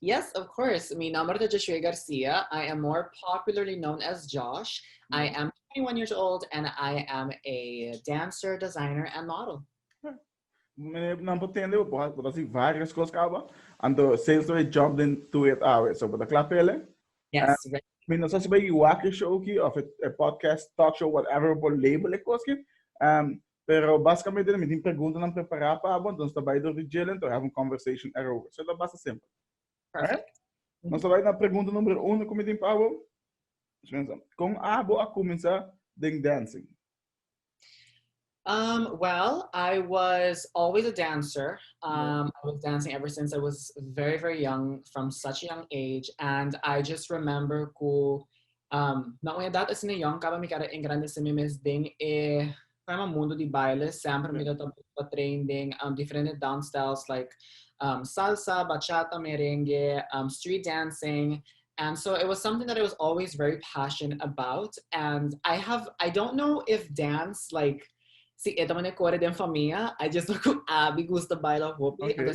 Yes, of course. Mi nomber ta Josué Garcia. I am more popularly known as Josh. I mm. am 21 years old and I am a dancer, designer and model. Meneer Nampo Tende, we dat zien various cosas kaba. En de sales we jumped into it awe. So, we dat klaar pele. Yes. Uh, mi no sa si bij wakker show ki of a podcast, talk show, whatever, we label ik koski. Um, Pero basikamente nan mi tin preguntanan prepará pa abo, anto nos ta bai dor di djelen to have un conversation erover. So e ta basta simpel. Oké? Nos ta bai na pregunta numero uno ku mi tin pa abo. Nos pensa, kon abo a kuminsá den dancing? Um, well, I was always a dancer. Um, I was dancing ever since I was very, very young, from such a young age. And I just remember ku Na un edat asina yòn kaba mi kara a engrandesé mi mes den e, ku ema, mundu di baile. Semper mi ta tabata busca train den diferente dance styles like salsa, bachata, merengue, street dancing. And so it was something that I was always very passion about and I have, I don't know if dance like si e ta manera kore den famia, I just know ku Aby gusta baila hopi anto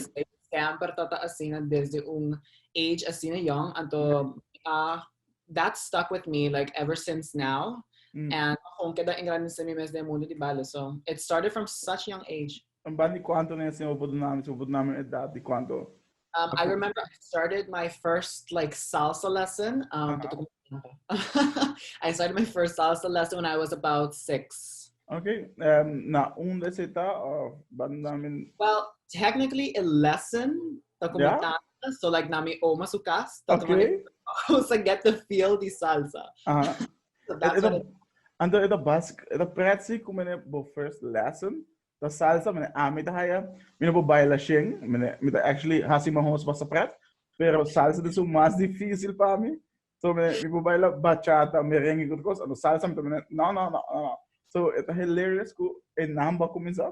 semper ta ta asina desde un age asina yòn. Anto mi a that stuck with me like ever since now mm. and gewoon queda engrandece mi mes de mundo di bale so it started from such young age en ban di cuánto ne se obo dynamics obo dynamics edad di cuánto um, I remember I started my first like salsa lesson um, uh-huh. I started my first salsa lesson when I was about six Okay, um, na un de zeta of Well, technically a lesson, the yeah. so like na mi oma su cas ta okay. tuma how to get the feel di salsa uh-huh. so that's it, what it, and the, the bus the pretzi ku mene bo first lesson the salsa mene a mi ta haya mene bo baila shen mene mi ta actually hasi ma hos basa pret pero salsa de su mas difícil pa mi so mene mi bo baila bachata merengue good cos and the salsa mene no no no no so it's hilarious ku enamba comienza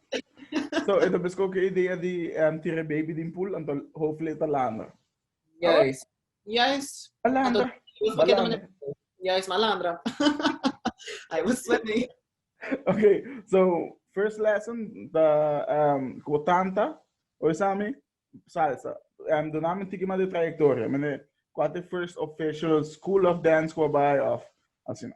So, e ta besko ke idea di em tira baby din pool, anto hofli e ta landa. Juist, juist. Anto Balanda, Dios pa keda balanda. manera. Juist, malandra. I was swimming. Okay, so first lesson ta um, como tanta, hoy sami, salsa. Um, Dona me tiki ma de trayectoria, mene, cuate first official school of dance qua by of, así no.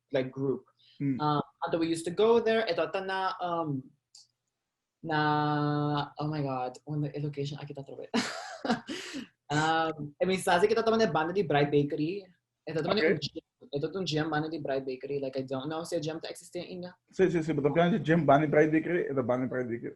like group anto we used to go there e tabata na na oh my god unda e location aki ta atrobe e mi sa si ke ta tabata na e banda di Bright Bakery e ta tabata e ta un gym banda di Bright Bakery like I don't know si e gym ta existe ainda si si si bo ta piensa di gym banda di Bright Bakery e ta banda di Bright Bakery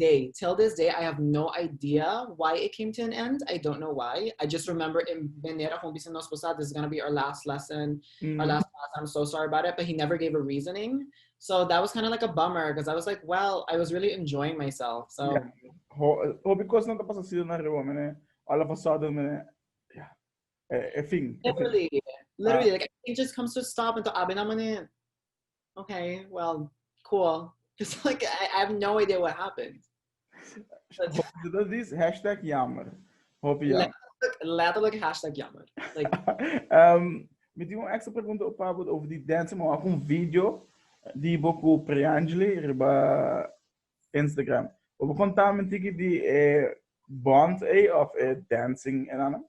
Day, Till this day I have no idea why it came to an end, I don't know why, I just remember in Bener a kong bisa nos ku sa this is gonna be our last lesson, our last class, I'm so sorry about it, but he never gave a reasoning, so that was kinda like a bummer, cuz I was like, well, I was really enjoying myself, so. Hopi cosnan ta pasa así den ariba, manera all of a sudden, manera, yeah, e fin. Literally, literally, like everything just comes to a stop, enton a bina manera. Okay, well, cool. It's like I, I have no idea what happened. Hope this hashtag jammer. Hope yeah. Letterlijk, hashtag jammer. Like, um, me dio een extra pregunta op Pablo over die dance, maar ook een video die boku Priangeli riba Instagram. Op contamen tiki die eh, bond eh, of eh, dancing en eh, ano?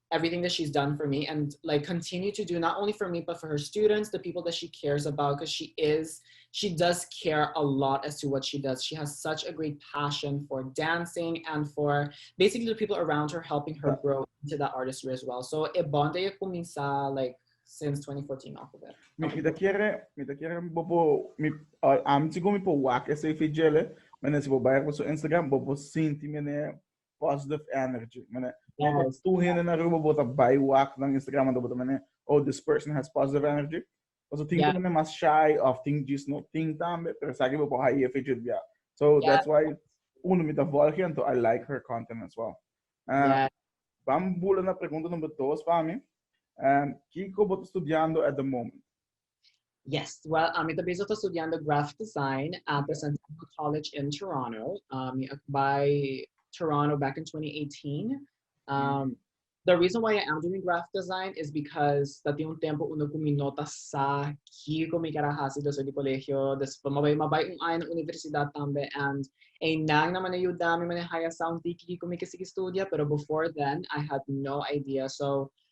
everything that she's done for me and like continue to do not only for me but for her students the people that she cares about because she is she does care a lot as to what she does she has such a great passion for dancing and for basically the people around her helping her grow into that artistry as well so e bond e comienza like since 2014 off of it mi kita quiere mi ta quiere bobo mi am chico mi po wak ese fijele mene si bo bayer por su instagram bobo sinti mene positive energy. Mene, yes. tu hende na Aruba bota bai wak na Instagram manda bota mene, oh, this person has positive energy. Also, think yeah. mene mas shy of think just no think tambe, pero saki bo por haye fidget bia. So yeah. that's why uno mita volge and I like her content as well. Um, uh, yeah. Bambula na pregunta number dos para mim. Um, Kiko bota studiando at the moment? Yes, well, uh, mi ta bezig ta studiando graphic design uh, mm. presentando college in Toronto. Um, mi by Toronto back in 2018. Um, mm. The reason why I am doing graphic design is because dat un tempo uno con mi nota sa que con mi cara hasi desde el colegio, después me voy a un año en la universidad también and en nada me ayuda me maneja ya sound que con mi que sigue estudia, pero before then I had no idea. So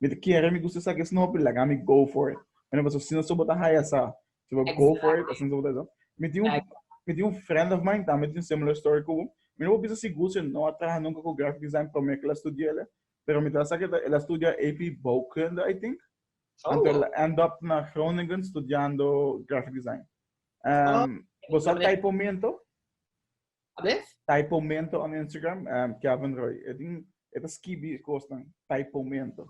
Mi ta kere, mi gusta sa kes nopi, laga mi go for it. Mi no paso, si no so bo ta haya sa, si bo go for it, asina so bo ta haya sa. Mi tin un, mi tin un friend of mine, tambe tin similar story ku bo. Mi no por bisa sigur si e no a traha nunka ku graphic design promé ku el a studia el, pero mi ta sa ke el a studia AP Bouwkunde, I think, anto el a end up na Groningen studiando graphic design. Bo sa kai por mento? Abes? Tai pomento on Instagram, um, Kevin Roy. E tin, e ta skibi kosnan, tai pomento.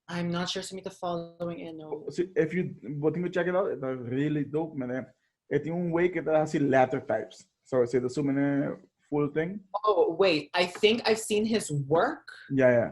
I'm not sure si mi ta following e no. Si, if you, botin ko check it out, e ta really dope, mene. E tin un way ke ta hasi letter types. So, si ta su mene full thing. Oh, wait, I think I've seen his work. Ja, ja.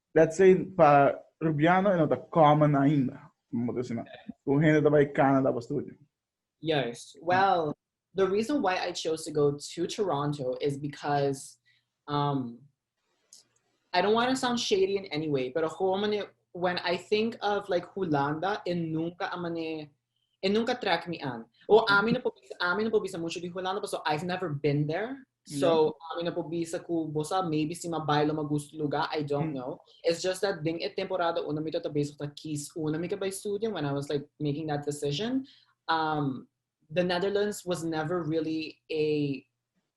Let's say pa Rubiano e no ta common ainda. Mo ta sina. Ku hende ta bai Canada pa studio. Yes. Well, the reason why I chose to go to Toronto is because um I don't want to sound shady in any way, pero gewoon mane when I think of like Hulanda, e nunca a mane E nunca track mi aan. O ami no por bisa, ami no por bisa mucho di Hulanda paso I've never been there. So, ami no por bisa cu bo sa, maybe si mi a bai lo mi a gusto e luga, I don't know. It's just that den e temporada unda mi tabata bezig ta kies unda mi ta bai studia, when I was like making that decision, um, the Netherlands was never really a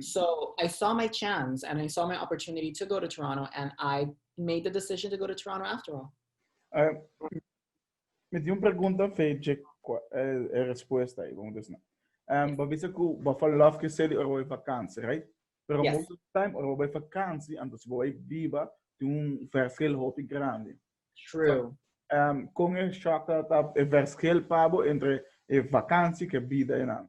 So I saw my chance and I saw my opportunity to go to Toronto and I made the decision to go to Toronto after all. Uh, me dio una pregunta feche eh, eh, respuesta ahí, vamos a decir. Um, but bisa ku ba fa love ke seli oro vakansie, right? Pero yes. most of the time oro by vakansie, anto si boy biba ti un verschil hopi grande. True. So, um, con e shaka ta e verschil pabo entre e vakansie ke bida en ano.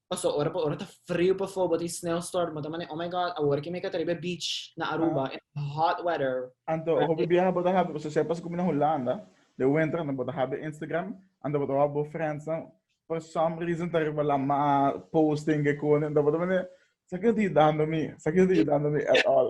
Paso ora pa ora ta frio pa fobo tin sneeuwstorm bo ta mane oh my god awor ke mi ka ta riba e beach na Aruba in hot weather. Anto hopi biaha bo ta habi paso esei paso komo na Hulanda de winter anto bo ta habi Instagram anto bo ta wak bo friends nan for some reason ta riba la mar posting kekoni anto bo ta mane esaki no ta yudando mi esaki no ta yudando mi at all.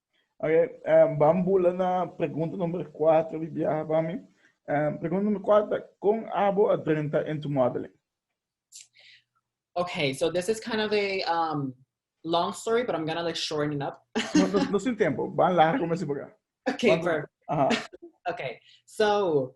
Ok, um, vam bula na pregunta number 4, Biblia para mi. Um, pregunta number 4, con abo a drenta en tu modeling? Okay, so this is kind of a um, long story, but I'm gonna like shorten it up. no, no, no sin tiempo, van largo me si Okay, perfect. Uh -huh. okay, so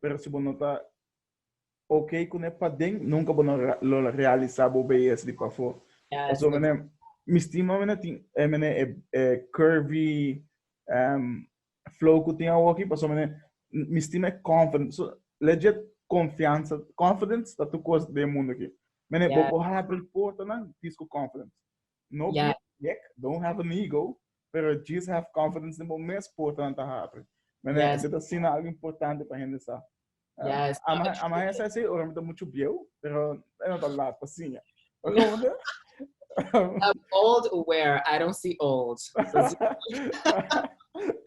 Pero si bo no ta ok con e paden nunca bo no lo realisa bo beyes di pafo. Paso mene mi stima mene tin e mene e curvy um flow cu tin awoki paso mene mi stima e confident so legit confiansa confidence ta tur cos den e mundo aki mene bo por habri portanan disco confidence No yeah. be big, don't have an ego, pero just have confidence in bo mes porta nan ta happy. Mene, yes. ese ta sina algo importante pa gente sa. Uh, yes. Ama, ama ese así, ora me ta mucho bieu, pero no ta lat pa sinya. I'm old aware, I don't see old.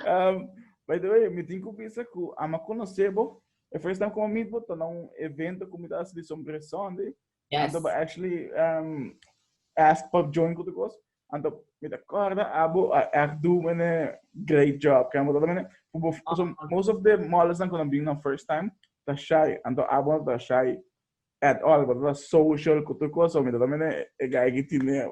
um, by the way, me tengo que pensar que ama conocebo, the first time como meet bo, tá num evento como tá se de sombressão de, Yes. Anto ba actually um, ask Pop Join kutu kos. Anto mi ta korda abo a echt do mene great job. Kan bodo mene. Kubo so ah. most of the models dan kunan bing na first time ta shy. Anto abo ta shy at all. Bodo ta social kutu kos. So mi ta mene e guy ki tine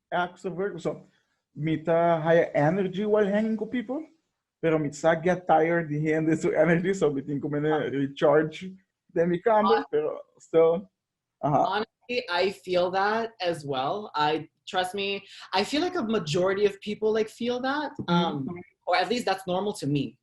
extra work so mi ta haya energy while hanging ku people pero mi sa get tired di hende su energy so mi tin ku mene recharge den mi kamer pero still aha Honestly, I feel that as well. I trust me. I feel like a majority of people like feel that, um, or at least that's normal to me.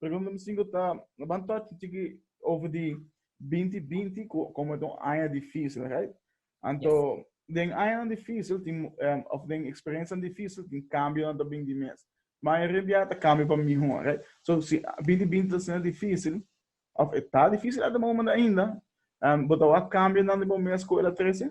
Pregunta number sinku ta, Nos ban touch un chiki over di binti binti ku komo ta un aña difísil, right? Anto den añanan difísil tin em, of den eksperensianan difísil tin kambionan ta bin di mes. Mayoria bia ta kambio pa mihó, right? So si binti binti ta siendo difísil of e ta difísil at de momen ainda, em bo ta wak kambionan di bo mes ku el a trese?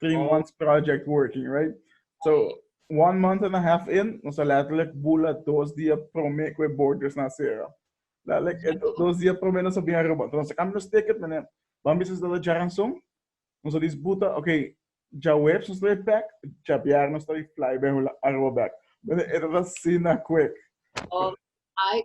three oh. months project working, right? So, one month and a half in, nos a letterlijk bula dos dia prome kwe borders na sera. Letterlijk, eh, dos dia prome nos a bia roba. Então, nos a cambio nos ticket, meneer, van bisa se dada jaranson, nos a disputa, ok, ja webs nos lay back, ja biar nos lay fly bij a roba back. Meneer, het was sina quick. Oh, I,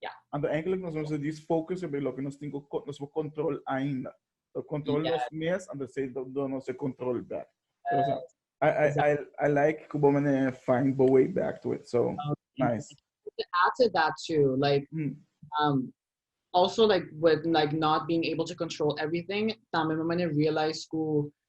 Ya. Anto eigenlijk nos nos dis focus sobre loke nos tin ko nos bo control ainda. So control Ya. nos mes, anto se do do nos e control back. So, so, I, I, I, I like ku bo mene find bo way back to it. So, nice. To add to that too, like Mm. um also like with like not being able to control everything, tambe mi mane realize ku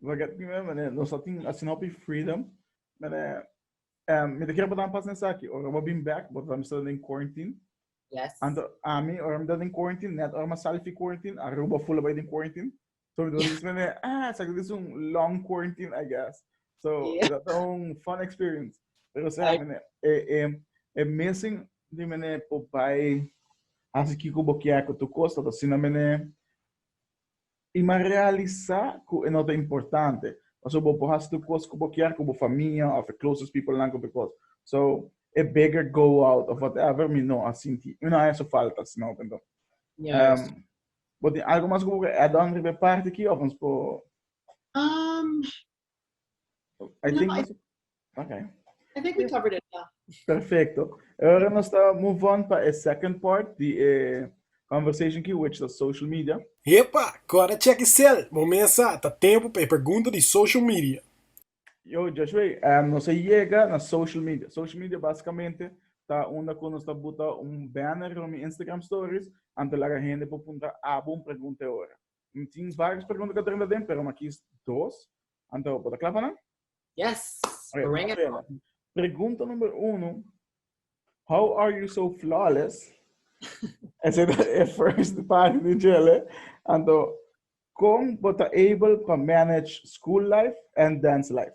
Lo get mi mem mene nos a tin asina hopi freedom mene um, mi te kere botan pas nesaki ora bo bin back bo ta misa den quarantine yes anto ami ora mi ta den quarantine net ora ma sali fi quarantine aruba fula bay den quarantine so mi ta mene ah sa dit un long quarantine i guess so yeah. dat un fun experience pero sa I... mene e e e missing di mene po bay hasi kiko bo kia ko tu kosa ta sina mene i m'a realisá ku e no ta importante, paso bo por hasi tur kos ku bo kier ku bo famia òf e closest peoplenan ku tur kos. So, e bigger goal out òf whatever mi no a sinti i no a hesu falta si mi a hopi anto. Yes. Bo tin algu mas ku bo ke add on riba e parti akí òf nos por. Um, I think no, okay. I think we covered it. Yeah. Perfecto. Ahora nos está move on para a second part the eh, conversation key which is social media. Epa, cora check cel. Momensa ta tempo para pregunta di social media. Yo, Joshua, um, nos llega na social media. Social media basicamente ta onda con nos buta un banner on Instagram stories ante la gente por punta abo un pregunta ahora. Tin tin varios pregunta ka drenta den, pero ma kis dos. Anto, bo ta kla pa nan? Yes, Oké, bring it Gabriela. on. Pregunta number uno. How are you so flawless? Ese ta e first party di Jelle. Anto, kon bo ta able pa manage school life and dance life?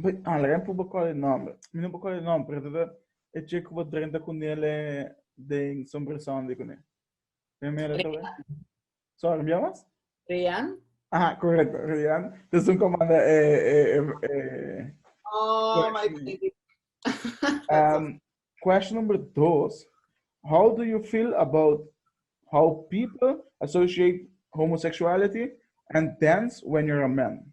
Bay alrem pu bo call e nombre. Mi no bo call e nombre, pero tata e che cu bo drenta cu nele den sombre Sunday cu ne. Tem mera tawe. Sorry, mi amas? Rian? Aha, correcto, Rian. Dus un comanda e e e e Oh, my baby. Um, question number dos. How do you feel about how people associate homosexuality and dance when you're a man?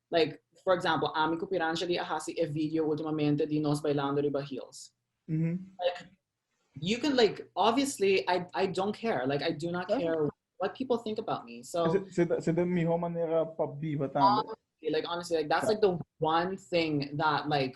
Like for example ami cu Pirangeli a haci e video ultimamente di nos bailando riba heels. Like you can like obviously I I don't care. Like I do not care what people think about me. So Se de mejor manera pa biva tambe. Honestly, like honestly, like that's like the one thing that like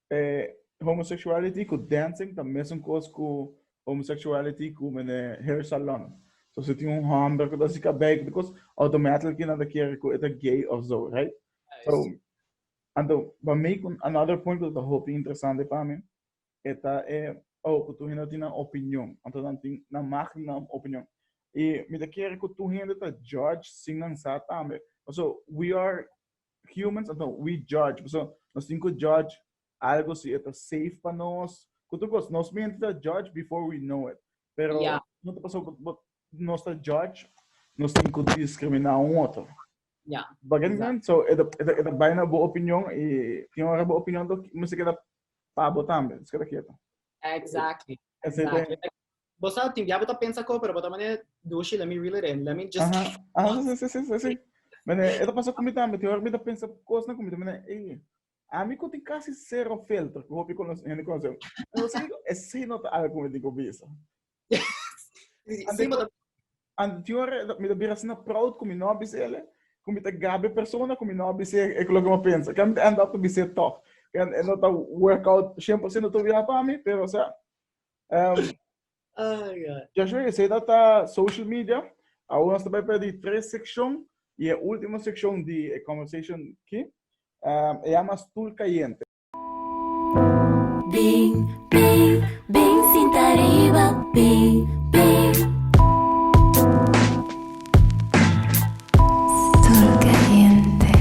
homosexuality ku dancing ta mesun kos ku homosexuality ku mende hair salon. So si tin un homber ku ta hasi kabei ku kos automatically nan ta kere ku e ta gay of so, right? So anto pa mi ku another point ku ta hopi interesante pa mi e ta e oh ku tur hende tin nan opinion, anto nan tin nan mag tin nan opinion. I mi ta kere ku tur hende ta judge sin nan sa tambe. Paso we are humans of no we judge paso nos tin cu judge algo si e ta safe pa nos cu tur cos nos mente ta judge before we know it pero yeah. no ta paso but, but nos ta judge nos tin cu discrimina un otro yeah. Begin exactly. so e ta e ta e ta bijna bo opinion e tin hora bo opinion to me se queda pa bo tambe se queda quieto exactly exactly Bo sa, tin dia bo ta pensa ko, pero bo ta mane dushi, let me reel it in, let me just... Aha, aha, si, si, si, si, si. Mane, e ta pasa ku mi tambe, tin ora ku mi ta pensa kosnan ku mi ta mane, ey, ami ku tin kasi sero filter, ku hopi kono, hende konosé, pero si, esei no ta algu ku mi tin ku bisa. Esei bo ta... Ante tin ora, mi ta bira asina proud ku mi no a bisa el, ku mi ta gaba e persona ku mi no a bisa e ku loke mi a pensa. Kende mi ta end up ta bisa e tòg, kende e no ta work out shen por siento tobia pa mi, pero o sea, Um, Ay, ay. Joshua, je sei dat a social media. Aún nos tabay para di tres sección y e último sección di e conversation ki. Um, e llama Stoel Cayente. Bing, bing, bing, sinta riba, bing, bing. Stoel Cayente.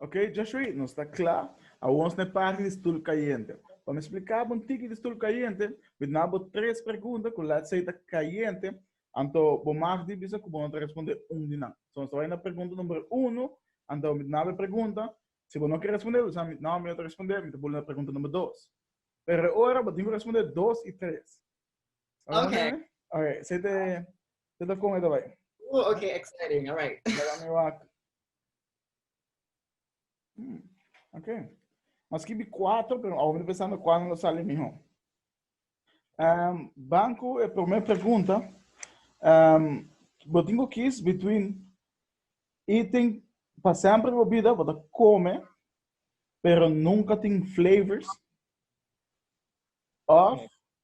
Ok, Joshua, nos ta kla. Awor nos na e parti di stul kayente. Pa mi splika bo un tiki di stul kayente, mi ta na bo tres pregunta ku lets sey ta kayente, anto bo mag di bisa ku bo no ta responde un di nan. So nos ta bai na pregunta number uno, anto mi ta na bo e pregunta, si bo no ke responde, bo ta sa mi no, mi no ta responde, mi ta buli na pregunta number dos. Pero e ora bo tin ku responde dos i tres. Oke. Oke, sey te Te ta con esta bay. Oh, okay, exciting. All right. Hmm. Okay. Mas que vi cuatro, pero ahora pensando cuándo sale mejor. Um, banco, a primeira pergunta. Um, eu tenho que kiss between eating para sempre bebida, para comer, pero nunca tem flavors. Of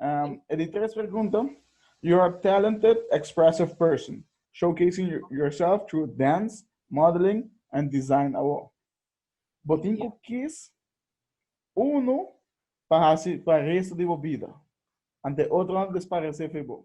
Um, e di tres pregunta, you are a talented, expressive person, showcasing yourself through dance, modeling, and design award. Botin ku kis uno pa hasi pa resto di bo vida, ante otro na desparece fe bo.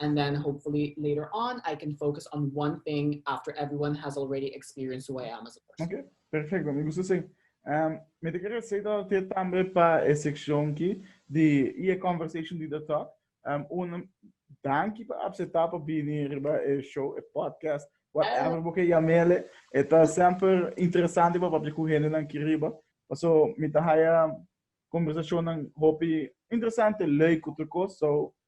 and then hopefully later on I can focus on one thing after everyone has already experienced who I am as a person. Ok, perfecto, mi gusta esey. Um, mi te quiere esey dat te tambe pa e seccion ki di y e conversation di The Talk. Um, un danki pa acepta pa bini riba e show, e podcast, whatever bo ke yamele. E ta semper interesante pa papia cu hende nan ki riba. Paso mi ta haya conversacionnan hopi interesante, leuk cu tur cos. So,